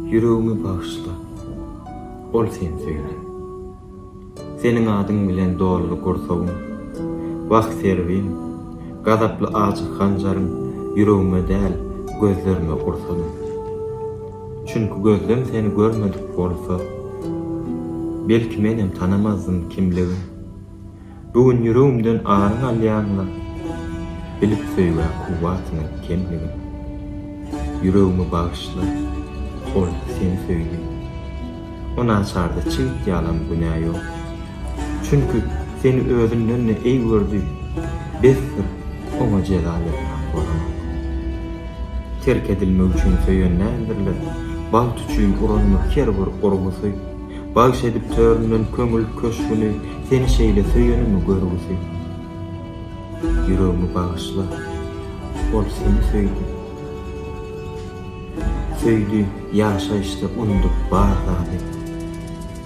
Ýüregimi bagyşla, ol sen söýlen. Seniň adyň bilen doldy gursagym. Wah Serwin, gazaply ajy hanjaryň ýüregime däl, gözlerime ursaly. Çünki gözlem seni görmedik bolsa, belki menem tanamazdym kimligin. Bu gün ýüregimden aryň alýaňmy? Bilip söýgä kuwwatyňy kemligin. Ýüregimi bagyşla, ol seni söýdi. O naçarda çigit ýalam günä ýok. Çünki seni özünden-de eý gördi. Besdir, oňa jeza bermän bolanok. Terk edilmek üçin söýen däldirler, bagt üçin urandyr her bir urgusy. Bagş edip töründen köňül köşgüni Seni şeýle söýenimi görgüsi Ýüregimi bagyşla Ol seni söýdi Söýdi ýaşaýşda undup bar zady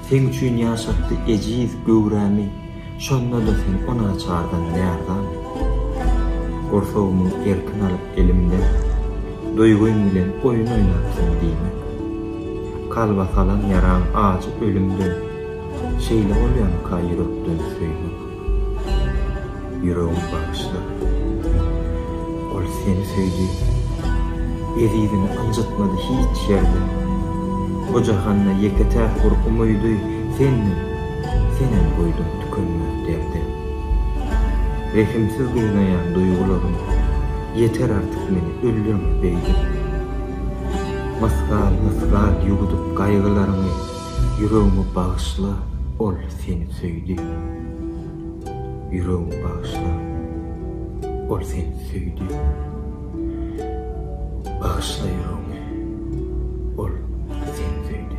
Seň üçin ýaşatdy ejiz göwrämi Şonda-da sen o naçardan ýardam et. Gursagymy erkin alyp elimden, Duýgym bilen oýun oýnapsyň diýme. Kalba salan ýaraň ajy ölümden, Şeýle bolýamyka ýürekden söýmek. Ýüregim bagyşlar. Ol seni söýdi. Ezizini ynjytmady hiç ýerde. Bu jahanda ýeke-täk bir umydy, sendiň. Senem goýduň tükenmez derde. Rehimsiz gynaýan duýgularym Ýeter artyk meni ölýäňmi beýdip. Mysgal mysgal ýuwudyp gaýgylaryňy Ýüregimi bagyşla ol seni söýdi. Ýüregimi bagyşla ol seni söýdi. Bagyşla ýüregimi ol seni söýdi.